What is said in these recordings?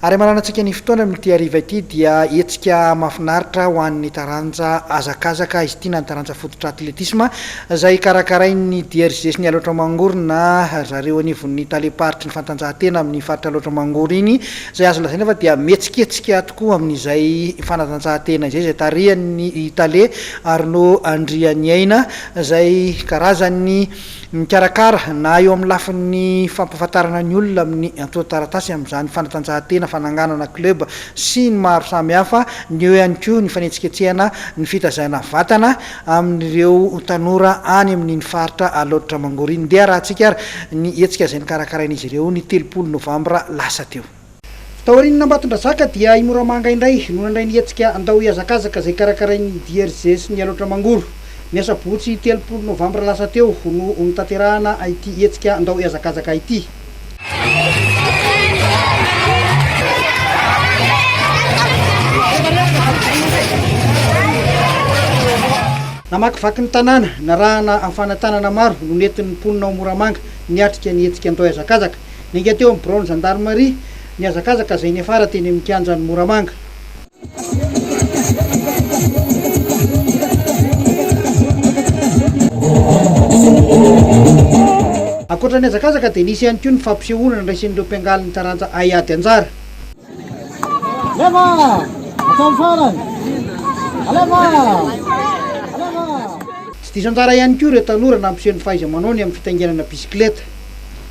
Ary amananan-tsika ny fotoana amin'ity hariva ity dia hetsika mafinaritra ho an'ny taranja hazakazaka izy ity na ny taranja fototra atletisma izay karakarain'ny DRG sy ny Alaotra Mangoro na zareo anivon'ny talem-paritry ny fantanjahantena amin'ny faritra Alaotra Mangoro iny izay azo lazaina fa dia mihetsiketsika tokoa amin'izay fanatanjahantena izay izay tarihan'ny tale Arnaud Andrianiaina izay karazan'ny Mikarakara, na eo amin'ny lafiny fampahafantarana ny olona amin'ny antontan-taratasy amin'izany fanatanjahantena fananganana club sy ny maro samihafa, ny eo ihany koa ny fanetsiketsehana ny fitazana vatana amin'ireo tanora any amin'iny faritra Alaotra Mangoro iny. Ndeha harahantsika ary ny hetsika izay nokarakarain'izy ireo ny telopolo novambra lasa teo. Taorian'Ambatondrazaka dia i Moramanga indray no nandray ny hetsika Andao Hihazakazaka izay karakarain'ny DRJ sy ny Alaotra Mangoro. Ny asabotsy telopolo novambra lasa teo no notanterahana ity hetsika Andao Hihazakazaka ity. Namakivaky ny tanàna, narahana amin'ny fanahy tanana maro no nentin'ny mponina ao Moramanga niatrika ny hetsika Andao Hihazakazaka. Niainga teo amin'ny biraon'ny zandarimaria nihazakazaka izay niafara teny amin'ny kianjan'i Moramanga. Ankoatra ny hazakazaka dia nisy ihany koa ny fampisehoana nandraisin'ireo mpiangaly ny taranja Hay ady anjara. Tsy diso anjara ihany koa ireo tanora nampiseho ny fahaiza-manaony amin'ny fitaingenana bisikileta.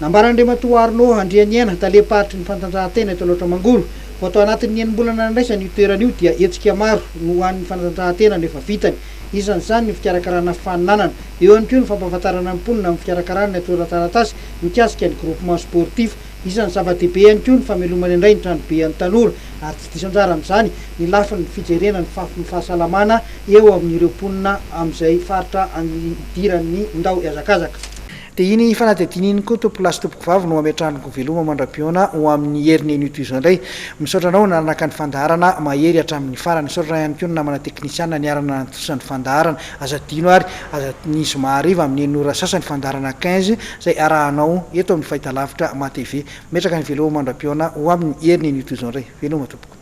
Nambaran'Andriamatoa Arnaud Andrianiaina, talem-paritry ny fantanjahantena eto Alaotra Mangoro, fa tao anatin'ny enim-bolana nandraisany io toerana io dia hetsika maro no ho an'ny fanatanjahantena no efa vitany. Isan'izany ny fikarakarana faninanana. Eo ihany koa ny fampahafantarana ny mponina amin'ny fikarakarana ny atorataratasy mikasika ny groupement sportif. Isan'ny zava-dehibe ihany koa ny famelomana indray ny tranobe an'ny tanora ary tsy diso anjara amin'izany ny lafiny fijerena ny fafin'ny fahasalamana eo amin'ireo mponina amin'izay faritra idiran'ny ndao hiazakazaka. Dia iny fanadihadiana iny koa tompolahy sy tompokovavy no ametrahany ko veloma mandrapihaona ho amin'ny heriny eny uto izao indray. Misaotra anao nanaraka ny fandaharana mahery hatramin'ny farany. Misaotra ihany koa ny namana teknisiana niarana nantosa ny fandaharana. Aza adino ary aza ny zoma hariva amin'ny enina ora sasa ny fandaharana quinze izay arahanao eto amin'ny fahitalavitra matv. Metraka ny veloma mandrapihaona ho amin'ny heriny eny uto izao indray. Veloma tompoko.